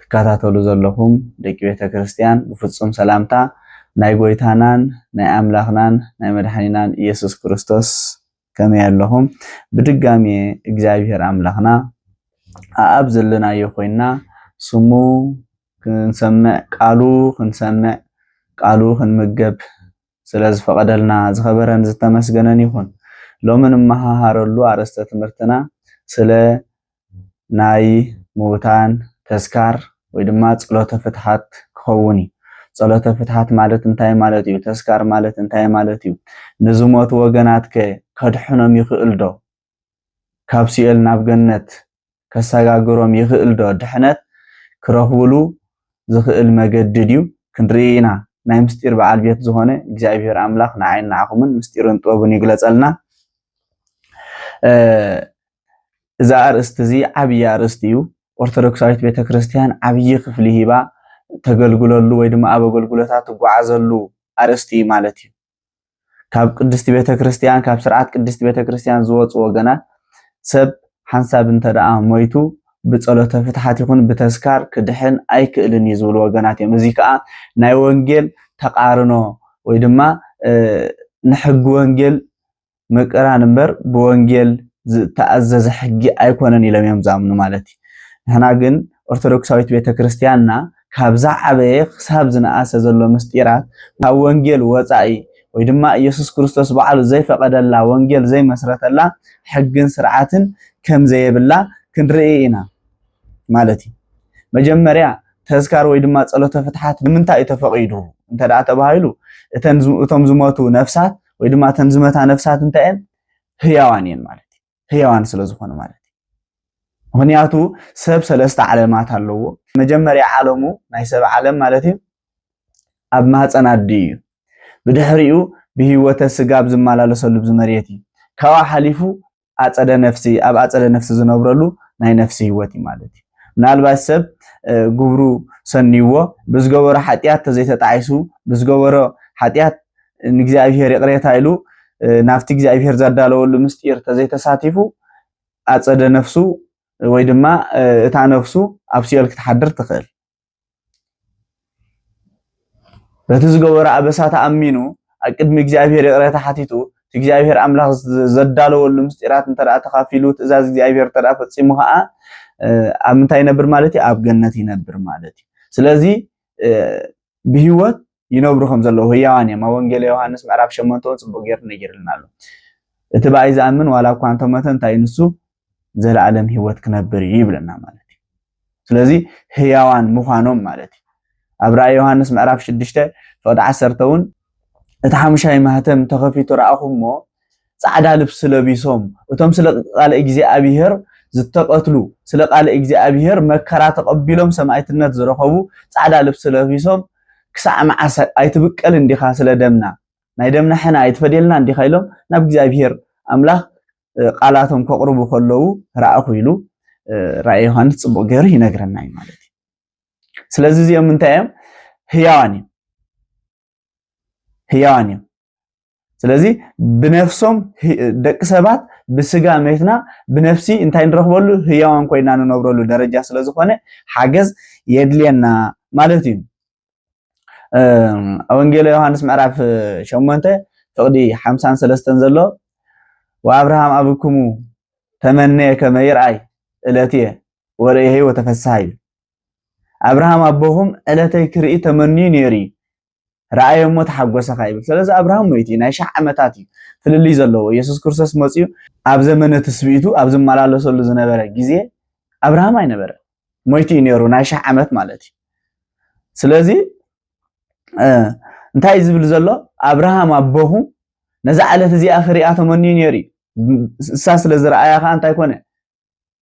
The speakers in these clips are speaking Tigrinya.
ትከታተሉ ዘለኹም ደቂ ቤተ ክርስቲያን ብፍጹም ሰላምታ ናይ ጎይታናን ናይ ኣምላኽናን ናይ መድሓኒናን ኢየሱስ ክርስቶስ ከመይ ኣለኹም? ብድጋሜ እግዚኣብሔር ኣምላኽና ኣኣብ ዘለናዮ ኮይና ስሙ ክንሰምዕ ቃሉ ክንሰምዕ ቃሉ ክንምገብ ስለ ዝፈቐደልና ዝኸበረን ዝተመስገነን ይኹን። ሎሚ ንመሃሃረሉ ኣርእስተ ትምህርትና ስለ ናይ ምዉታን ተስካር ወይ ድማ ጸሎተ ፍትሓት ክኸውን እዩ። ጸሎተ ፍትሓት ማለት እንታይ ማለት እዩ? ተስካር ማለት እንታይ ማለት እዩ? ንዝሞቱ ወገናትከ ከድሕኖም ይኽእል ዶ? ካብ ሲኦል ናብ ገነት ከሰጋግሮም ይኽእል ዶ ድሕነት ክረኽቡሉ ዝኽእል መገዲ ድዩ ክንርኢ ኢና ናይ ምስጢር በዓል ቤት ዝኾነ እግዚኣብሔር ኣምላኽ ንዓይን ንዓኹምን ምስጢሩን ጥበቡን ይግለጸልና እዚ ኣርእስቲ እዚ ዓብዪ ኣርእስቲ እዩ። ኦርቶዶክሳዊት ቤተክርስትያን ዓብዪ ክፍሊ ሂባ ተገልግለሉ ወይ ድማ ኣብ ኣገልግሎታ ትጓዓዘሉ ኣርእስቲ እዩ ማለት እዩ። ካብ ቅድስቲ ቤተ ክርስቲያን ካብ ስርዓት ቅድስቲ ቤተ ክርስቲያን ዝወፁ ወገናት ሰብ ሓንሳብ እንተ ደኣ ሞይቱ ብጸሎተ ፍትሓት ይኹን ብተስካር ክድሕን ኣይክእልን እዩ ዝብሉ ወገናት እዮም። እዚ ከዓ ናይ ወንጌል ተቃርኖ ወይ ድማ ንሕጊ ወንጌል ምቅራን እምበር ብወንጌል ዝተኣዘዘ ሕጊ ኣይኮነን ኢሎም እዮም ዝኣምኑ ማለት እዩ። ንሕና ግን ኦርቶዶክሳዊት ቤተ ክርስቲያንና ካብ ዝዓበየ ክሳብ ዝነኣሰ ዘሎ ምስጢራት ካብ ወንጌል ወፃኢ ወይ ድማ ኢየሱስ ክርስቶስ በዓሉ ዘይፈቐደላ ወንጌል ዘይመስረተላ ሕግን ስርዓትን ከም ዘየብላ ክንርኢ ኢና ማለት እዩ። መጀመርያ ተዝካር ወይ ድማ ጸሎተ ፍትሓት ንምንታይ እዩ ተፈቒዱ እንተደኣ ተባሂሉ እቶም ዝሞቱ ነፍሳት ወይ ድማ እተን ዝመታ ነፍሳት እንታይ እየን ህያዋን እየን ማለት እዩ ህያዋን ስለ ዝኾኑ ማለት እዩ ምክንያቱ ሰብ ሰለስተ ዓለማት ኣለዎ መጀመርያ ዓለሙ ናይ ሰብ ዓለም ማለት እዩ ኣብ ማህፀን ኣዲ እዩ ብድሕሪኡ ብህይወተ ስጋ ኣብ ዝመላለሰሉ ብዝመሬት እዩ ካብኣ ሓሊፉ ኣፀደ ነፍሲ ኣብ ኣፀደ ነፍሲ ዝነብረሉ ናይ ነፍሲ ህይወት እዩ ማለት እዩ ምናልባት ሰብ ግብሩ ሰንይዎ ብዝገበሮ ሓጢኣት ተዘይተጣዒሱ ብዝገበሮ ሓጢኣት ንእግዚኣብሄር ይቕሬታ ኢሉ ናብቲ እግዚኣብሄር ዘዳለወሉ ምስጢር ተዘይተሳቲፉ ኣፀደ ነፍሱ ወይ ድማ እታ ነፍሱ ኣብ ሲኦል ክትሓድር ትኽእል በቲ ዝገበሮ ኣበሳ ተኣሚኑ ኣብ ቅድሚ እግዚኣብሔር ይቕረታ ሓቲቱ እቲ እግዚኣብሔር ኣምላኽ ዘዳለወሉ ምስጢራት እንተ ተኻፊሉ ትእዛዝ እግዚኣብሔር እንተ ፈፂሙ ከዓ ኣብ ምንታይ ይነብር ማለት እዩ? ኣብ ገነት ይነብር ማለት እዩ። ስለዚ ብህይወት ይነብሩ ከም ዘለዉ ህያዋን እዮም። ኣብ ወንጌል ዮሃንስ ምዕራፍ ሸሞንተ እውን ጽቡቕ ጌሩ ነጊርልና ኣሎ። እቲ ብኣይ ዝኣምን ዋላ እኳ እንተሞተ እንታይ ንሱ ዘለኣለም ህይወት ክነብር እዩ ይብለና ማለት እዩ። ስለዚ ህያዋን ምዃኖም ማለት እዩ። ኣብ ራእይ ዮሃንስ ምዕራፍ ሽዱሽተ ፍቕዲ ዓሰርተ እውን እቲ ሓሙሻይ ማህተም ተኸፊቱ ረኣኹ እሞ ጻዕዳ ልብሲ ለቢሶም እቶም ስለ ቃለ እግዚኣብሔር ዝተቀትሉ ስለ ቃለ እግዚኣብሔር መከራ ተቀቢሎም ሰማእትነት ዝረከቡ ጻዕዳ ልብሲ ለቢሶም ክሳዕ መዓስ ኣይትብቀልን ዲኻ ስለ ደምና ናይ ደምና ሕነ ኣይትፈድየልናን ዲኻ ኢሎም ናብ እግዚኣብሔር ኣምላኽ ቃላቶም ከቅርቡ ከለዉ ረኣኹ ኢሉ ራእይ ዮሃንስ ጽቡቅ ገይሩ ይነግረና እዩ ማለት እዩ። ስለዚ እዚኦም እንታይ እዮም? ህያዋን እዮም። ህያዋን እዮም ስለዚ ብነፍሶም ደቂ ሰባት ብስጋ መትና ብነፍሲ እንታይ ንረኽበሉ ህያዋን ኮይና ንነብረሉ ደረጃ ስለ ዝኾነ ሓገዝ የድልየና ማለት እዩ ወንጌለ ዮሃንስ ምዕራፍ ሸሞንተ ፍቕዲ ሓምሳን ሰለስተን ዘሎ ወኣብርሃም ኣብክሙ ተመነየ ከመ ይርኣይ እለት እየ ወርእየ ወተፈስሃ እዩ ኣብርሃም ኣቦኹም ዕለተይ ክርኢ ተመንዩ ነይሩ እዩ ረኣየ እሞ ተሓጎሰ ኸ ይብል ስለዚ ኣብርሃም ሞይቱ እዩ ናይ ሻዕ ዓመታት እዩ ፍልልይ ዘለዎ የሱስ ክርስቶስ መፅኡ ኣብ ዘመነ ትስብኢቱ ኣብ ዝመላለሰሉ ዝነበረ ግዜ ኣብርሃም ኣይነበረ ሞይቱ እዩ ነይሩ ናይ ሻሕ ዓመት ማለት እዩ ስለዚ እንታይ እዩ ዝብል ዘሎ ኣብርሃም ኣቦኹ ነዛ ዕለት እዚኣ ክሪኣ ተመንዩ ነይሩ እዩ እሳ ስለ ዝረኣያ ከዓ እንታይ ኮነ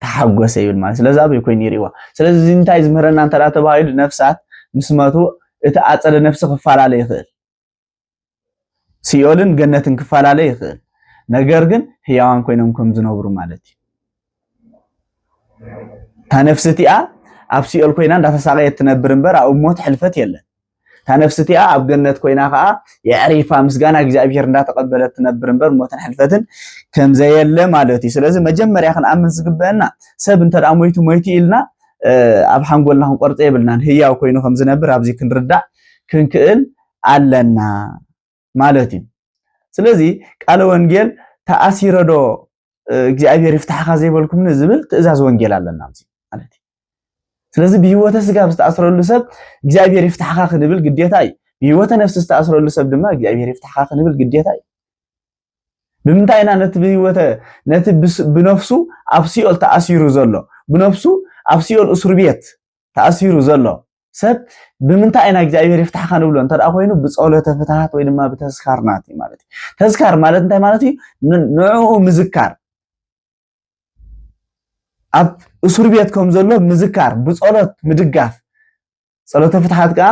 ተሓጎሰ ይብል ማለት ስለዚ ኣበይ ኮይኑ ይርእዋ ስለዚ እዚ እንታይ ዝምህረና እንተ ተባሂሉ ነፍሳት ምስ መቱ እቲ ኣፀደ ነፍሲ ክፈላለ ይኽእል ሲኦልን ገነትን ክፈላለ ይኽእል ነገር ግን ህያዋን ኮይኖም ከም ዝነብሩ ማለት እዩ እታ ነፍሲ እቲኣ ኣብ ሲኦል ኮይና እንዳተሳቀየት ትነብር እምበር ኣብ ሞት ሕልፈት የለን እታ ነፍሲ እቲኣ ኣብ ገነት ኮይና ከዓ የዕሪፋ ምስጋና እግዚኣብሔር እንዳተቀበለት ትነብር እምበር ሞትን ሕልፈትን ከምዘየለ ማለት እዩ ስለዚ መጀመርያ ክንኣምን ዝግበአና ሰብ እንተ ሞይቱ ሞይቱ ኢልና ኣብ ሓንጎልና ክንቆርፀ የብልናን ህያው ኮይኑ ከምዝነብር ኣብዚ ክንርዳእ ክንክእል ኣለና ማለት እዩ ስለዚ ቃለ ወንጌል ተኣሲረዶ እግዚኣብሔር ይፍታሕኻ ዘይበልኩም ዝብል ትእዛዝ ወንጌል ኣለና ማለት እዩ ስለዚ ብህይወተ ስጋ ኣብ ዝተኣስረሉ ሰብ እግዚኣብሔር ይፍታሕኻ ክንብል ግዴታ እዩ ብህይወተ ነፍሲ ዝተኣስረሉ ሰብ ድማ እግዚኣብሔር ይፍታሕኻ ክንብል ግዴታ እዩ ብምንታይ ኢና ነቲ ብህይወተ ነቲ ብነፍሱ ኣብ ሲኦል ተኣሲሩ ዘሎ ብነፍሱ ኣብ ሲኦል እስሩ ቤት ተኣሲሩ ዘሎ ሰብ ብምንታይ ኢና እግዚኣብሔር ይፍታሕካ ንብሎ እንተ ኮይኑ ብፀሎተ ፍትሃት ወይ ድማ ብተስካር ናት እዩ ማለት እዩ ተስካር ማለት እንታይ ማለት እዩ ንዕኡ ምዝካር ኣብ እሱር ቤት ከም ዘሎ ምዝካር ብፀሎት ምድጋፍ ፀሎተ ፍትሓት ከዓ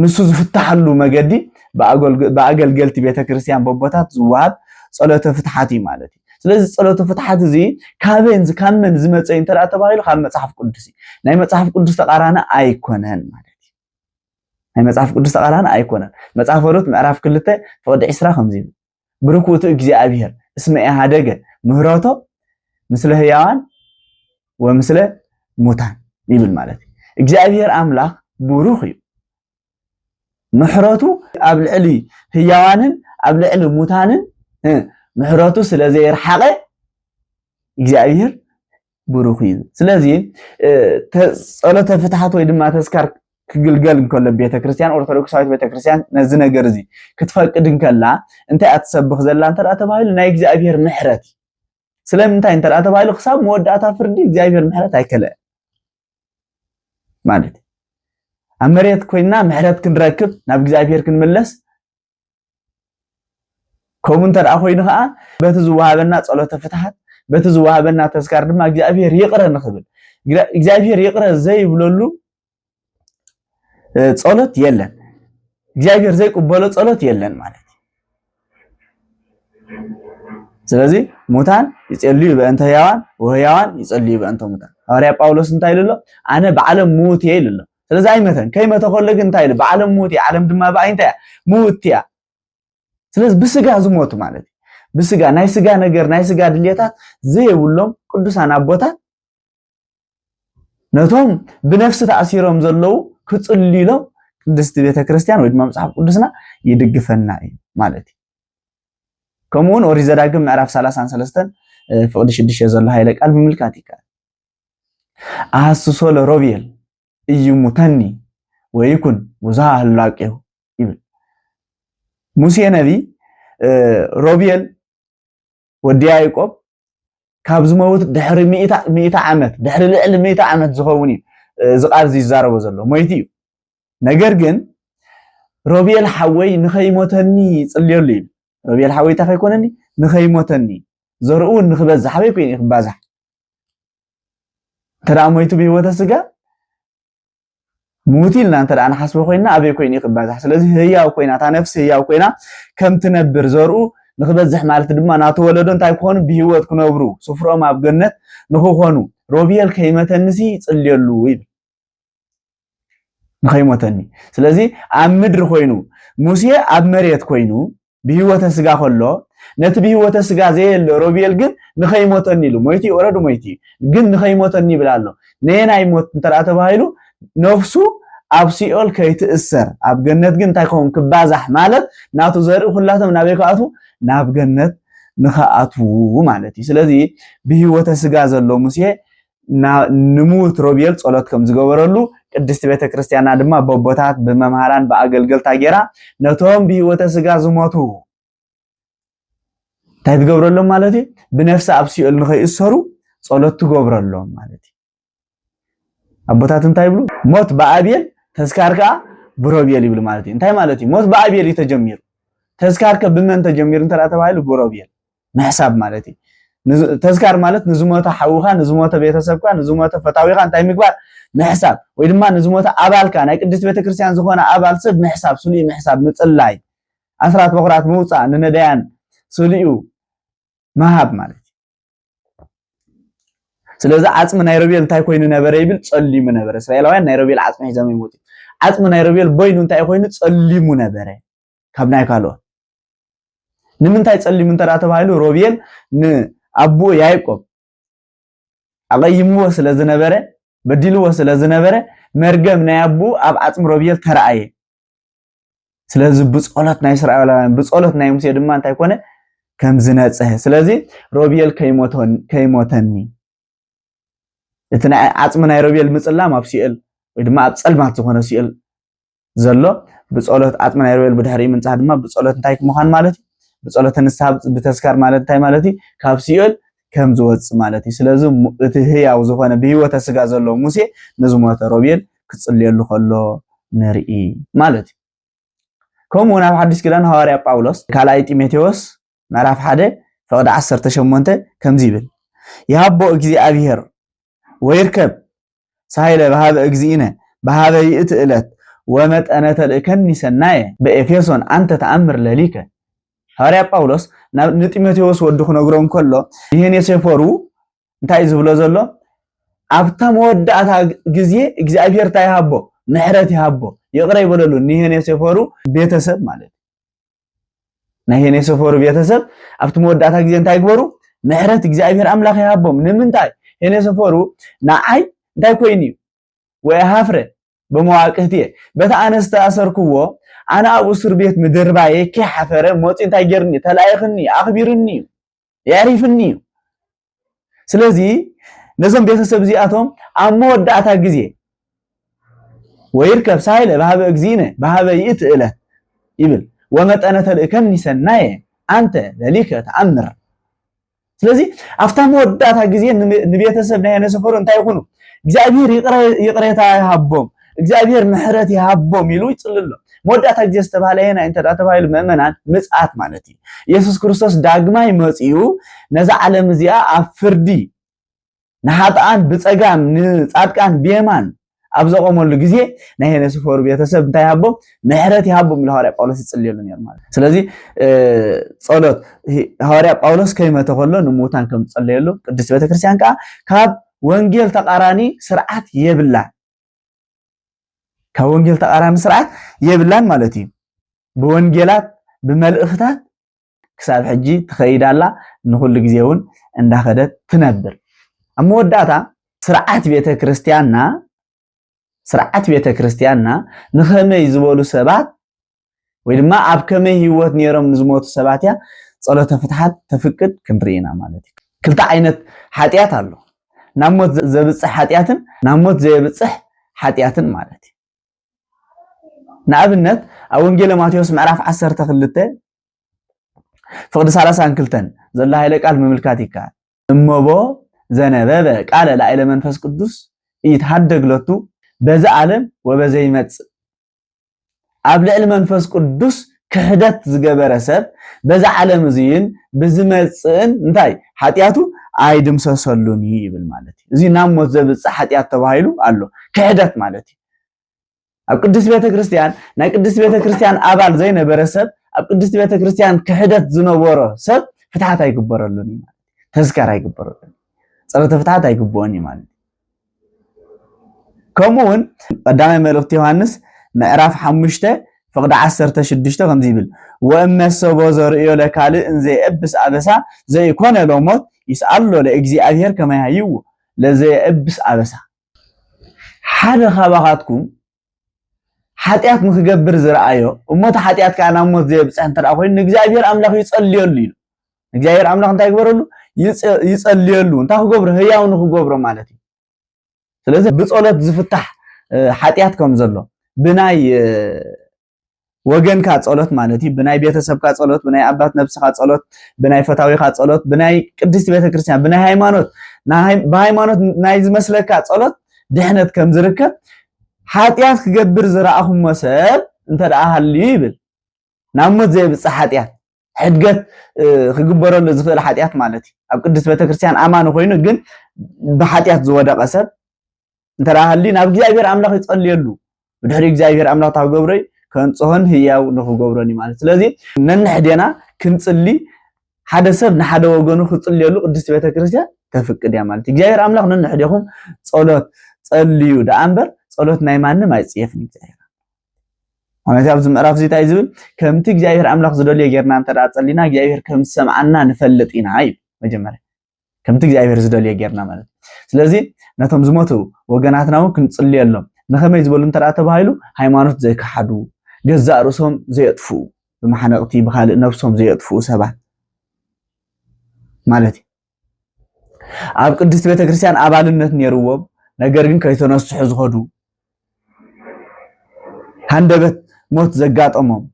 ንሱ ዝፍታሓሉ መገዲ ብኣገልገልቲ ቤተክርስትያን በቦታት ዝወሃብ ጸሎተ ፍትሓት እዩ ማለት እዩ። ስለዚ ጸሎተ ፍትሓት እዚ ካበን ካብ መን ዝመጸ እንተ ተባሂሉ ካብ መጽሓፍ ቅዱስ እዩ ናይ መጽሓፍ ቅዱስ ተቃራኒ ኣይኮነን ማለት እዩ ናይ መጽሓፍ ቅዱስ ተቃራኒ ኣይኮነን መጽሓፍ ሩት ምዕራፍ ክልተ ፍቅዲ ዕስራ ከምዚ ይብል ብሩክ ውእቱ እግዚኣብሔር እስመ ኢሃደገ ምህረቶ ምስለ ህያዋን ወምስለ ሙታን ይብል ማለት እዩ እግዚኣብሔር ኣምላኽ ብሩክ እዩ ምሕረቱ ኣብ ልዕሊ ህያዋንን ኣብ ልዕሊ ሙታንን ምሕረቱ ስለ ዘየርሓቐ እግዚኣብሔር ብሩኽ እዩ ስለዚ ጸሎተ ፍትሓት ወይ ድማ ተስካር ክግልገል እንከሎ ቤተክርስትያን ኦርቶዶክሳዊት ቤተክርስትያን ነዚ ነገር እዚ ክትፈቅድ እንከላ እንታይ እያ ትሰብኽ ዘላ እንተ ተባሂሉ ናይ እግዚኣብሄር ምሕረት እዩ ስለምንታይ እንተ ተባሂሉ ክሳብ መወዳእታ ፍርዲ እግዚኣብሄር ምሕረት ኣይከለአ ማለት ኣብ መሬት ኮይንና ምሕረት ክንረክብ ናብ እግዚኣብሄር ክንምለስ ከምኡ እንተ ደኣ ኮይኑ ኸኣ በቲ ዝወሃበና ጸሎተ ፍትሓት በቲ ዝወሃበና ተስካር ድማ እግዚኣብሔር ይቕረ ንኽብል እግዚኣብሔር ይቕረ ዘይብለሉ ጸሎት የለን እግዚኣብሔር ዘይቅበሎ ጸሎት የለን ማለት ስለዚ ሙታን ይጸልዩ በእንተ ህያዋን ወህያዋን ይጸልዩ በእንተ ሙታን ሃዋርያ ጳውሎስ እንታይ ኢሉ ኣሎ ኣነ ብዓለም ምዉት እየ ኢሉ ኣሎ ስለዚ ኣይመተን ከይመተ ከሎ ግን እንታይ ኢሉ ብዓለም ምዉት እያ ዓለም ድማ ብኣይ እንታይ እያ ምውቲ እያ ስለዚ ብስጋ ዝሞቱ ማለት እዩ ብስጋ ናይ ስጋ ነገር ናይ ስጋ ድሌታት ዘይብሎም ቅዱሳን ኣቦታት ነቶም ብነፍሲ ተኣሲሮም ዘለዉ ክፅልሎም ቅድስቲ ቤተ ክርስቲያን ወይ ድማ መፅሓፍ ቅዱስና ይድግፈና እዩ ማለት እዩ ከምኡውን ኦሪት ዘዳግም ምዕራፍ 33 ፍቅዲ 6 ዘሎ ሃይለ ቃል ምምልካት ይከኣል ኣሃስሶ ለሮብየል እዩ ሙተኒ ወይኩን ውዛ ህላቄው ይብል ሙሴ ነቢ ሮብየል ወዲ ያዕቆብ ካብ ዝመውት ድሕሪ ሚእታ ዓመት ድሕሪ ልዕሊ ሚእታ ዓመት ዝኸውን እዩ እዚ ቃል ዝዛረቦ ዘሎ ሞይቲ እዩ ነገር ግን ሮብየል ሓወይ ንኸይሞተኒ ይፅልየሉ እዩ ሮብየል ሓወይ እንታይ ከይኮነኒ ንኸይሞተኒ ዘርኡ ንክበዝሕ ኣበይ ኮይኑ ክባዛሕ እንተ ሞይቱ ብህይወተ ስጋ ምውት ኢልና እንተ ንሓስቦ ኮይና ኣበይ ኮይኑ ክባዛሕ ስለዚ ህያው ኮይና እታ ነፍሲ ህያው ኮይና ከም ትነብር ዘርኡ ንክበዝሕ ማለት ድማ ናተወለዶ እንታይ ክኾኑ ብህይወት ክነብሩ ስፍሮም ኣብ ገነት ንክኾኑ ሮብኤል ከይመተንሲ ይፅልየሉ ይብል ንኸይሞተኒ ስለዚ ኣብ ምድሪ ኮይኑ ሙሴ ኣብ መሬት ኮይኑ ብህይወተ ስጋ ከሎ ነቲ ብህይወተ ስጋ ዘየለ ሮቤል ግን ንኸይሞተኒ ኢሉ ሞይቲ ወረዱ ሞይቲ ግን ንኸይሞተኒ ይብል ኣሎ ነየናይ ሞት እንተ ተባሂሉ ነፍሱ ኣብ ሲኦል ከይትእሰር ኣብ ገነት ግን እንታይ ከውን ክባዛሕ ማለት ናቱ ዘርኢ ኩላቶም ናበይ ክኣትዉ ናብ ገነት ንኸኣትዉ ማለት እዩ ስለዚ ብህይወተ ስጋ ዘሎ ሙሴ ንምዉት ሮቤል ጸሎት ከም ዝገበረሉ ቅድስቲ ቤተ ክርስቲያና ድማ በቦታት ብመምሃራን ብኣገልገልታ ጌራ ነቶም ብህይወተ ስጋ ዝሞቱ እንታይ ትገብረሎም ማለት እዩ ብነፍሲ ኣብ ሲኦል ንኸይእሰሩ ጸሎት ትገብረሎም ማለት እዩ ኣቦታት እንታይ ይብሉ ሞት ብኣብየል ተስካር ከዓ ብሮቤል ይብሉ ማለት እዩ እንታይ ማለት እዩ ሞት ብኣብየል እዩ ተጀሚሩ ተስካርከ ብመን ተጀሚሩ እንተ ተባሂሉ ብሮቤል ምሕሳብ ማለት እዩ ተዝካር ማለት ንዝሞተ ሓውኻ ንዝሞተ ቤተሰብካ ንዝሞተ ፈታዊኻ እንታይ ምግባር ምሕሳብ ወይ ድማ ንዝሞተ ኣባልካ ናይ ቅድስት ቤተክርስትያን ዝኾነ ኣባል ሰብ ምሕሳብ ስሉይ ምሕሳብ ምፅላይ ኣስራት በኩራት ምውፃእ ንነዳያን ስሉዩ ምሃብ ማለት ስለዚ ዓፅሚ ናይ ሮቤል እንታይ ኮይኑ ነበረ ይብል ፀሊሙ ነበረ እስራኤላውያን ናይ ሮቤል ዓፅሚ ሒዞም ይሞቱ ዓፅሚ ናይ ሮቤል ቦይኑ እንታይ ኮይኑ ፀሊሙ ነበረ ካብ ናይ ካልኦት ንምንታይ ጸሊም እንተ ተባሂሉ ሮቤል ንኣቦኡ ያዕቆብ ኣቐይምዎ ስለ ዝነበረ በዲልዎ ስለ ዝነበረ መርገም ናይ ኣቦኡ ኣብ ዓጽሚ ሮቤል ተረኣየ ስለዚ ብጸሎት ናይ እስራኤላውያን ብጸሎት ናይ ሙሴ ድማ እንታይ ኮነ ከም ዝነጽሀ ስለዚ ሮቤል ከይሞተኒ እቲ ዓጽሚ ናይ ሮቤል ምጽላም ኣብ ሲኦል ወይ ድማ ኣብ ጸልማት ዝኾነ ሲኦል ዘሎ ብጸሎት ኣጥምና የርበል ብድሕሪ ምንጻህ ድማ ብጸሎት እንታይ ምዃን ማለት እዩ ብጸሎት ንስሓ ብተስካር ማለት እንታይ ማለት እዩ ካብ ሲኦል ከም ዝወጽእ ማለት እዩ ስለዚ እቲ ህያው ዝኾነ ብህይወተ ስጋ ዘሎ ሙሴ ንዝሞተ ሮቤል ክጽልየሉ ከሎ ንርኢ ማለት እዩ ከምኡ እውን ኣብ ሓድሽ ኪዳን ሃዋርያ ጳውሎስ ካልኣይ ጢሞቴዎስ ምዕራፍ ሓደ ፍቕዲ ዓሰርተ ሸሞንተ ከምዚ ይብል ይሃቦ እግዚኣብሄር ወይርከብ ሳይለ በሃበ እግዚእነ በሃበ ይእቲ እለት ወመጠነ ተልእከኒ ሰናየ በኤፌሶን ኣንተ ተኣምር ለሊከ ሃዋርያ ጳውሎስ ንጢሞቴዎስ ወዱ ክነግሮ እንከሎ ይህን የሴፎሩ እንታይ ዝብሎ ዘሎ ኣብታ መወዳእታ ግዜ እግዚኣብሄር እንታይ ይሃቦ ምሕረት ይሃቦ ይቕረ ይበለሉ ኒሄን የሴፈሩ ቤተሰብ ማለት ናይ ሄኔሶፎር ቤተሰብ ኣብቲ መወዳእታ ግዜ እንታይ ግበሩ? ምሕረት እግዚኣብሔር ኣምላኽ ይሃቦም። ንምንታይ ሄኔሶፎሩ ንዓይ እንታይ ኮይኑ እዩ ወይ ሃፍረ በመዋቅህቲ እየ በቲ ኣነ ዝተኣሰርክዎ ኣነ ኣብ እሱር ቤት ምድርባየ ከይሓፈረ መፂኡ እንታይ ጌርኒ ተላኢኽኒ ኣኽቢርኒ እዩ የዕሪፍኒ እዩ ስለዚ ነዞም ቤተሰብ እዚኣቶም ኣብ መወዳእታ ግዜ ወይርከብ ሳይለ ባህበ እግዚእነ ባህበ ይእቲ እለት ይብል ወመጠነ ተልእከኒ ሰናየ ኣንተ ለሊከ ተኣምር ስለዚ ኣብታ መወዳእታ ግዜ ንቤተሰብ ናይ ነሰፈሩ እንታይ ይኹኑ እግዚኣብሔር ይቕሬታ ይሃቦም እግዚኣብሔር ምሕረት ይሃቦም ኢሉ ይጽልሎ መወዳእታ ግዜ ዝተባሃለ የናይ እንተ ተባሂሉ ምእመናን ምጽኣት ማለት እዩ ኢየሱስ ክርስቶስ ዳግማይ መጺኡ ነዛ ዓለም እዚኣ ኣብ ፍርዲ ንሓጥኣን ብፀጋም ንፃድቃን ብየማን ኣብ ዘቆመሉ ግዜ ናይ ሄነ ስፈሩ ቤተሰብ እንታይ ሃቦ ምሕረት ይሃቦም ኢሉ ሃዋርያ ጳውሎስ ይጽልየሉ ነይሩ ማለት ስለዚ ጸሎት ሃዋርያ ጳውሎስ ከይመተ ከሎ ንሙታን ከም ዝጸለየሉ ቅድስት ቤተክርስትያን ከዓ ካብ ወንጌል ተቃራኒ ስርዓት የብላን ካብ ወንጌል ተቃራኒ ስርዓት የብላን ማለት እዩ ብወንጌላት ብመልእኽታት ክሳብ ሕጂ ትኸይድ ኣላ ንኹሉ ግዜ እውን እንዳኸደት ትነብር ኣብ መወዳእታ ስርዓት ቤተ ክርስቲያንና ስርዓት ቤተ ክርስቲያንና ንኸመይ ዝበሉ ሰባት ወይ ድማ ኣብ ከመይ ህይወት ነይሮም ንዝሞቱ ሰባት እያ ጸሎተ ፍትሓት ተፍቅድ ክንርኢ ኢና ማለት እዩ ክልተ ዓይነት ሓጢኣት ኣሎ ናብ ሞት ዘብፅሕ ሓጢኣትን ናብ ሞት ዘየብፅሕ ሓጢኣትን ማለት እዩ ንኣብነት ኣብ ወንጌለ ማቴዎስ ምዕራፍ 12 ፍቕዲ 32 ዘሎ ሃይለ ቃል ምምልካት ይከኣል እመቦ ዘነበበ ቃለ ላዕለ መንፈስ ቅዱስ ይትሃደግ ለቱ በዚ ዓለም ወበዘይመጽእ ኣብ ልዕሊ መንፈስ ቅዱስ ክሕደት ዝገበረ ሰብ በዚ ዓለም እዚን ብዝመፅእን እንታይ ሓጢኣቱ ኣይድምሰሰሉን እዩ ይብል ማለት እዩ። እዚ ናብ ሞት ዘብፅእ ሓጢኣት ተባሂሉ ኣሎ ክሕደት ማለት እዩ። ኣብ ቅድስት ቤተ ክርስቲያን ናይ ቅድስት ቤተ ክርስቲያን ኣባል ዘይነበረ ሰብ ኣብ ቅድስት ቤተ ክርስቲያን ክሕደት ዝነበሮ ሰብ ፍትሓት ኣይግበረሉን እዩ ማለት ተዝከር ኣይግበረሉን ፀሎተ ፍትሓት ኣይግብኦን እዩ ማለት ከምኡ እውን ቀዳማይ መልእኽቲ ዮሃንስ ምዕራፍ ሓሙሽተ ፍቕዲ ዓሰርተ ሽዱሽተ ከምዚ ይብል ወእመሰቦ ዘርእዮ ለካልእ እንዘየእብስ ኣበሳ ዘይኮነ ሎሞት ይስኣሎ ለእግዚኣብሔር ከመያይዎ ለዘየእብስ ኣበሳ ሓደ ካባኻትኩም ሓጢኣት ንክገብር ዝረኣዮ እሞ እቲ ሓጢኣት ከዓ ናብ ሞት ዘየብፅሕ እንተ ኮይኑ ንእግዚኣብሔር ኣምላኽ ይፀልየሉ ኢሉ ንእግዚኣብሔር ኣምላኽ እንታይ ይግበረሉ ይፀልየሉ እንታይ ክገብሮ ህያው ንክገብሮ ማለት እዩ ስለዚ ብፀሎት ዝፍታሕ ሓጢኣት ከም ዘሎ ብናይ ወገንካ ጸሎት ማለት እዩ። ብናይ ቤተሰብካ ጸሎት፣ ብናይ ኣባት ነብስኻ ጸሎት፣ ብናይ ፈታዊኻ ጸሎት፣ ብናይ ቅድስቲ ቤተክርስትያን፣ ብናይ ሃይማኖት ብሃይማኖት ናይ ዝመስለካ ጸሎት ድሕነት ከም ዝርከብ ሓጢኣት ክገብር ዝረኣኹሞ ሰብ እንተ ደኣ ሃልዩ ይብል ናብ ሞት ዘይብጽሕ ሓጢኣት ሕድገት ክግበረሉ ዝኽእል ሓጢኣት ማለት እዩ ኣብ ቅድስት ቤተክርስትያን ኣማኒ ኮይኑ ግን ብሓጢኣት ዝወደቐ ሰብ እንተ ሃልዩ ናብ እግዚኣብሔር ኣምላኽ ይጸልየሉ ብድሕሪ እግዚኣብሔር ኣምላኽ እታ ክገብረዩ ከንጽሆን ህያው ንኽገብሮን እዩ ማለት ስለዚ ነንሕዴና ክንጽሊ ሓደ ሰብ ንሓደ ወገኑ ክጽልየሉ ቅድስት ቤተክርስትያን ተፍቅድ እያ ማለት እዩ እግዚኣብሔር ኣምላኽ ነንሕዴኹም ጸሎት ጸልዩ ደኣ እምበር ጸሎት ናይ ማንም ኣይጽየፍን እግዚኣብሔር ማለት ኣብዚ ምዕራፍ እዚ እንታይ ዝብል ከምቲ እግዚኣብሔር ኣምላኽ ዝደልዮ ጌርና እንተ ጸሊና እግዚኣብሔር ከም ዝሰምዓና ንፈልጥ ኢና እዩ መጀመርያ ከምቲ እግዚኣብሔር ዝደልዮ ጌርና ማለት ስለዚ ነቶም ዝሞቱ ወገናትና እውን ክንጽልየሎም ንኸመይ ዝበሉ እንተ ተባሂሉ ሃይማኖት ዘይከሓዱ ገዛእ ርእሶም ዘየጥፍኡ ብመሓነቕቲ ብካልእ ነብሶም ዘየጥፍኡ ሰባት ማለት እዩ ኣብ ቅድስት ቤተ ክርስቲያን ኣባልነት ነይርዎም ነገር ግን ከይተነስሑ ዝኸዱ ሃንደበት ሞት ዘጋጠሞም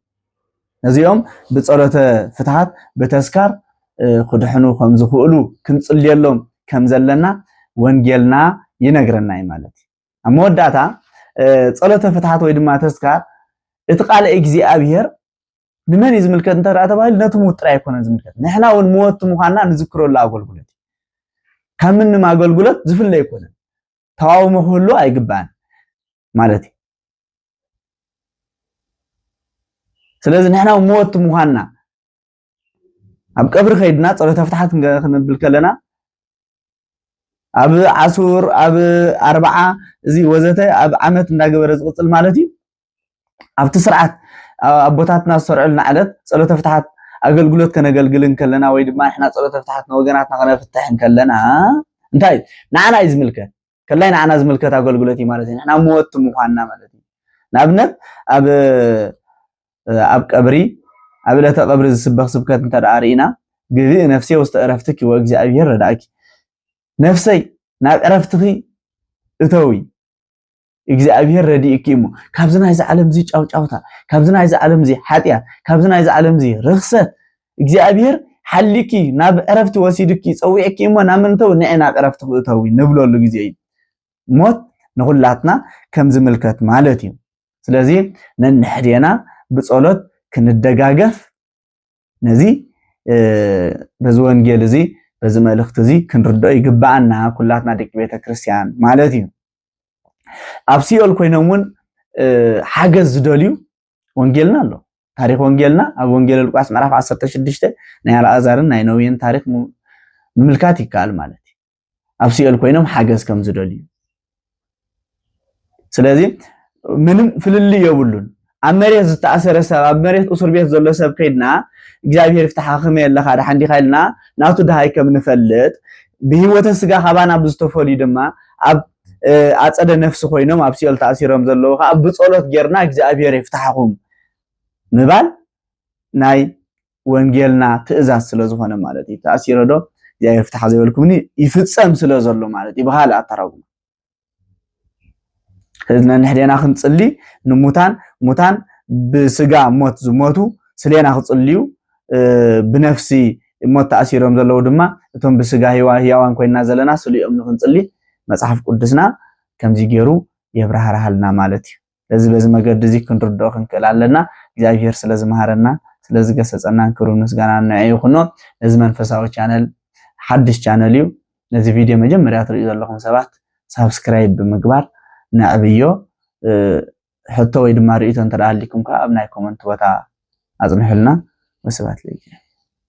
ነዚኦም ብጸሎተ ፍትሓት ብተስካር ክድሕኑ ከም ዝኽእሉ ክንጽልየሎም ከም ዘለና ወንጌልና ይነግረና እዩ ማለት እዩ ኣብ መወዳእታ ጸሎተ ፍትሓት ወይ ድማ ተስካር እቲ ቃል እግዚኣብሔር ንመን እዩ ዝምልከት እንተ ተባሂሉ ነቲ ምዉት ጥራይ ኣይኮነን ዝምልከት ንሕና እውን መወቲ ምዃንና ንዝክረሉ ኣገልግሎት እዩ ካብ ምንም ኣገልግሎት ዝፍለ ኣይኮነን ተቃውሞ ክህሉ ኣይግባእን ማለት እዩ ስለዚ ንሕና መወቲ ምዃንና ኣብ ቀብሪ ከይድና ፀሎተ ፍትሓት ክንብል ከለና ኣብ ዓሱር ኣብ ኣርባዓ እዚ ወዘተ ኣብ ዓመት እንዳገበረ ዝቕፅል ማለት እዩ ኣብቲ ስርዓት ኣቦታትና ዝሰርዑልና ዕለት ጸሎተ ፍትሓት ኣገልግሎት ከነገልግል እንከለና ወይ ድማ ንሕና ጸሎተ ፍትሓት ንወገናትና ከነፍትሕ እንከለና እንታይ ንዓና እዩ ዝምልከት ከላይ ንዓና ዝምልከት ኣገልግሎት እዩ ማለት እዩ ንሕና መወቲ ምዃንና ማለት እዩ ንኣብነት ኣብ ኣብ ቀብሪ ኣብ ዕለተ ቀብሪ ዝስበኽ ስብከት እንተ ደኣ ርኢና ግብእ ነፍሴ ውስተ ዕረፍትኪ ወእግዚኣብሔር ረዳእኪ ነፍሰይ ናብ ዕረፍትኺ እተዊ እግዚኣብሔር ረዲእኪ እሞ ካብዚ ናይዚ ዓለም እዚ ጫውጫውታ ካብዚ ናይዚ ዓለም እዚ ሓጢኣት ካብዚ ናይዚ ዓለም እዚ ርኽሰት እግዚኣብሔር ሓሊኪ ናብ ዕረፍቲ ወሲድኪ ፀዊዕኪ እሞ ናብ ምንተው ንዐ ናብ ዕረፍቲ ክእተዊ ንብለሉ ግዜ እዩ ሞት ንኹላትና ከም ዝምልከት ማለት እዩ ስለዚ ነንሕዴና ብፀሎት ክንደጋገፍ ነዚ በዚ ወንጌል እዚ በዚ መልእኽቲ እዚ ክንርድኦ ይግባኣና ኩላትና ደቂ ቤተ ክርስቲያን ማለት እዩ ኣብ ሲኦል ኮይኖም እውን ሓገዝ ዝደልዩ ወንጌልና ኣሎ ታሪክ ወንጌልና ኣብ ወንጌል ሉቃስ ምዕራፍ 16 ናይ ኣልኣዛርን ናይ ነውየን ታሪክ ምምልካት ይከኣል ማለት እዩ ኣብ ሲኦል ኮይኖም ሓገዝ ከም ዝደልዩ ስለዚ ምንም ፍልልይ የብሉን ኣብ መሬት ዝተኣሰረ ሰብ ኣብ መሬት እስር ቤት ዘሎ ሰብ ከይድና እግዚኣብሔር ይፍትሓ ከመይ ኣለካ ድሓን ዲኻ ኢልና ናቱ ድሃይ ከም ንፈልጥ ብሂወተ ስጋ ካባና ብዝተፈልዩ ድማ ኣብ ኣፀደ ነፍሲ ኮይኖም ኣብ ሲኦል ተኣሲሮም ዘለዉ ከዓ ብፀሎት ጌርና እግዚኣብሔር ይፍታሕኹም ምባል ናይ ወንጌልና ትእዛዝ ስለ ዝኾነ ማለት እዩ ተኣሲረ ዶ እግዚኣብሔር ፍትሓ ዘይበልኩምኒ ይፍፀም ስለ ዘሎ ማለት እዩ ብካልእ ኣተራጉማ ስለዚ ነንሕዴና ክንፅሊ ንሙታን ሙታን ብስጋ ሞት ዝሞቱ ስሌና ክፅልዩ ብነፍሲ ሞት ተኣሲሮም ዘለዉ ድማ እቶም ብስጋ ህያዋን ኮይና ዘለና ስልኦም ንክንፅሊ መፅሓፍ ቅዱስና ከምዚ ገይሩ የብራህርሃልና ማለት እዩ ስለዚ በዚ መገዲ እዚ ክንርድኦ ክንክእል ኣለና እግዚኣብሄር ስለ ዝመሃረና ስለ ዝገሰጸናን ክብሪ ምስጋና ንዐ ይኹኖ ነዚ መንፈሳዊ ቻነል ሓድሽ ቻነል እዩ ነዚ ቪድዮ መጀመርያ ትሪኡ ዘለኹም ሰባት ሳብስክራይብ ብምግባር ነዕብዮ ሕቶ ወይ ድማ ርእቶ እንተደኣ ሃሊኩም ከዓ ኣብ ናይ ኮመንት ቦታ ኣጽንሑልና ወስብሐት ለእግዚኣብሄር